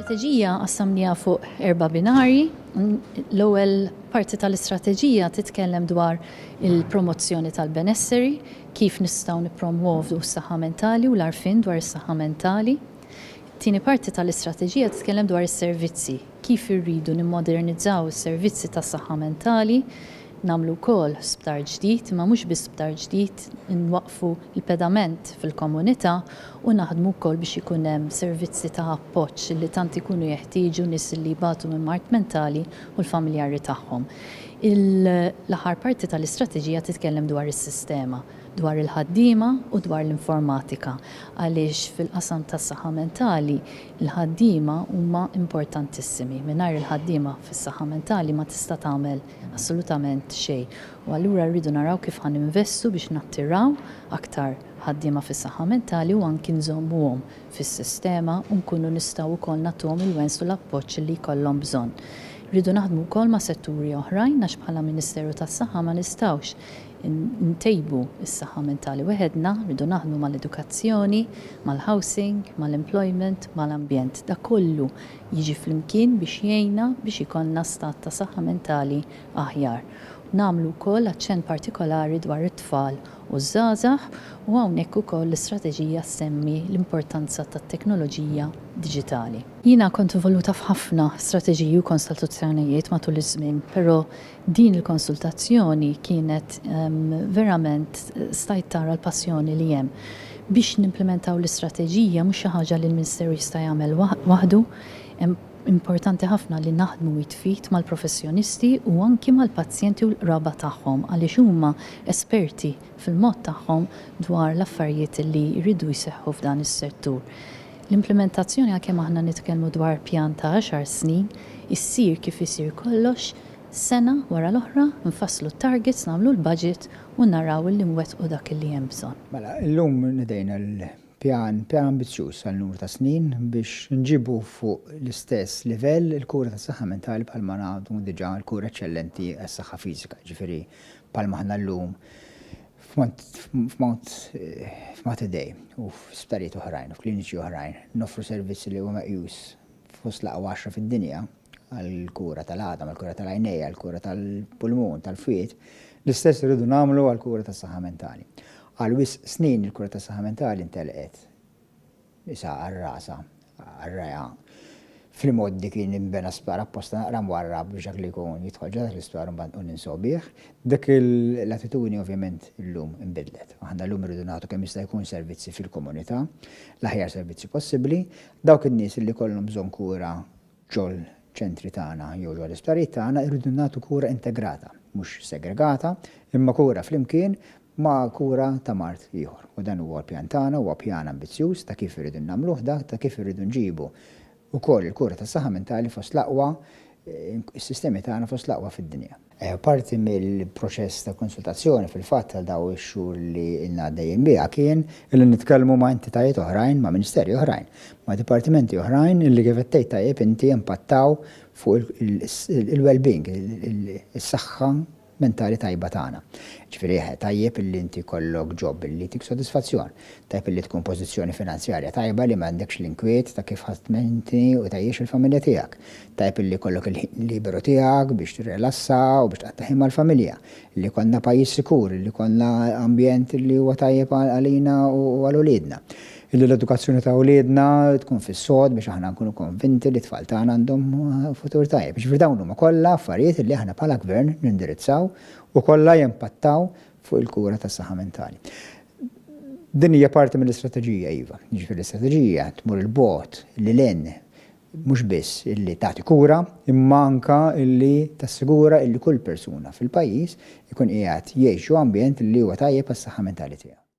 Strateġija qassamniha fuq erba' binarji. L-ewwel parti tal-istrateġija titkellem dwar il-promozzjoni tal-benesseri, kif nistgħu nippromwovu s-saħħa mentali u l-għarfien dwar is-saħħa mentali. It-tieni parti tal-istrateġija titkellem dwar is-servizzi, kif irridu nimmodernizzaw is-servizzi tas-saħħa mentali, Nagħmlu wkoll sptar ġdid, imma mhux biss sptar ġdid, inwaqqfu l-pedament fil-komunità u naħdmu wkoll biex ikun hemm servizzi ta' appoġġ li tant ikunu jeħtieġu nies li jbatu minn mard mentali u l-familjari tagħhom. L-aħħar parti tal-istrateġija titkellem dwar is-sistema, dwar il-ħaddiema u dwar l-informatika għaliex fil-qasam tas-saħħa mentali l-ħaddiema huma importantissimi. Mingħajr il-ħaddiema fis-saħħa mentali ma tista' tagħmel Assolutament xejn. U allura rridu naraw kif ħa ninvestu biex nattiraw aktar ħaddiema fis-saħħa mentali u anki nżommuhom fis-sistema u nkunu nistgħu wkoll nagħtuhom il-wens u l-appoġġ li jkollhom bżonn. Irridu naħdmu wkoll ma' setturi oħrajn għax bħala Ministeru tas-Saħħa ma nistgħux ntejbu s-saħħa mentali weħedna, rridu naħdmu mal-edukazzjoni, mal-housing, mal-employment, mal-ambjent. Dak kollu jiġi flimkien biex jgħinna biex ikollna stat ta' saħħa mentali aħjar. Nagħmlu wkoll aċċenn partikolari dwar it-tfal u ż-żgħażagħ u hawnhekk ukoll l-istrateġija ssemmi l-importanza tat-teknoloġija diġitali. Jiena kont involuta f'ħafna strateġiji u konsultazzjonijiet matul iż-żmien, però Din il-konsultazzjoni kienet verament stajt tara l-passjoni li hemm. Biex nimplimentaw l-istrateġija mhux xi ħaġa li l-Ministeru jista' jagħmel waħdu, hemm importanti ħafna li naħdmu id f'id mal-professjonisti u anki mal-pazjenti u l-qraba tagħhom għaliex huma esperti fil-mod tagħhom dwar l-affarijiet li jridu jseħħu f'dan is-settur. L-implimentazzjoni għalkemm aħna nitkellmu dwar pjan ta' għaxar snin, issir kif isir kollox, Sena wara l-oħra nfasslu t-targets, nagħmlu l-budget u naraw illi nwettqu dak illi hemm bżonn. Mela, illum nedejna l-pjan, pjan ambizzjuż għal numru ta' snin biex nġibu fuq l-istess livell il-kura tas-saħħa mentali bħalma ngħadu diġà l-kura eċċellenti għas-saħħa fiżika, jiġifieri bħalma aħna llum f'Mount f'Mater Dei u f'isptarijiet oħrajn u f'kliniċi oħrajn noffru servizz li huwa meqjus fost l-aqwa għaxra fid-dinja, għall-kura tal-għadam, għall-kura tal-għajnejn, għall-kura tal-pulmun, tal-fwied, l-istess irridu nagħmlu għall-kura tas-saħħa mentali. Għal wisq snin il-kura tas-saħħa mentali ntelqet isha għal rasha, għal rajha. Fl-imgħoddi kien inbena sptar apposta naqra mwarrab biex dak li jkun jidħol ġodda l-isptar mbagħad u ninsaw bih. Dik l-attitudni ovvjament illum inbidlet. Aħna llum irridu nagħtu kemm jista' jkun servizzi fil-komunità, l-aħjar servizzi possibbli, dawk in-nies li kollhom bżonn kura Ġol-ċentri tagħna jew ġol-isptarijiet tagħna rridu nagħtu kura integrata, mhux segregata, imma kura flimkien ma' kura ta' mard ieħor. U dan huwa l-pjan tagħna, huwa pjan ambizzjuż ta' kif irridu nagħmluh dak, ta' kif irridu nġibu wkoll il-kura tas-saħħa mentali fost l-aqwa, is-sistemi tagħna fost l-aqwa fid-dinja. Parti mill-proċess ta' konsultazzjoni fil-fatt għal dawn ix-xhur li ilna għaddejjin biha kien illi nitkellmu ma' entitajiet oħrajn, ma' Ministeri oħrajn, ma' dipartimenti oħrajn illi kif qed tgħid tajjeb inti impattaw fuq il-wellbeing, is-saħħa mentali tajba tagħna. Jiġifieri tajjeb illi inti jkollok job illi jtik sodisfazzjon, tajjeb illi tkun pożizzjoni finanzjarja tajba li m'għandekx l-inkwiet ta' kif ħadd tmenti u tgħejjex il-familja tiegħek, Tajjeb illi jkollok il-ħin liberu tiegħek biex tirrelassa u biex tqatta' ħin mal-familja. Li jkollna pajjiż sikur, illi jkollna ambjent illi huwa tajjeb għalina u għal uliedna. Illi l-edukazzjoni ta' uliedna tkun fis-sod biex aħna nkunu konvinti li t-tfal tagħna għandhom futur tajjeb. Jiġifieri dawn huma kollha affarijiet illi aħna bħala Gvern nindirizzaw u kollha jimpattaw fuq il-kura tas-saħħa mentali. Din hija parti mill-istrateġija, iva. Jiġifieri l-istrateġija tmur 'il bogħod, lil hinn. mhux biss illi tagħti kura imma anke illi tassigura illi kull persuna fil-pajjiż ikun qiegħed jgħix ġo ambjent illi huwa tajjeb għas-saħħa mentali tiegħu.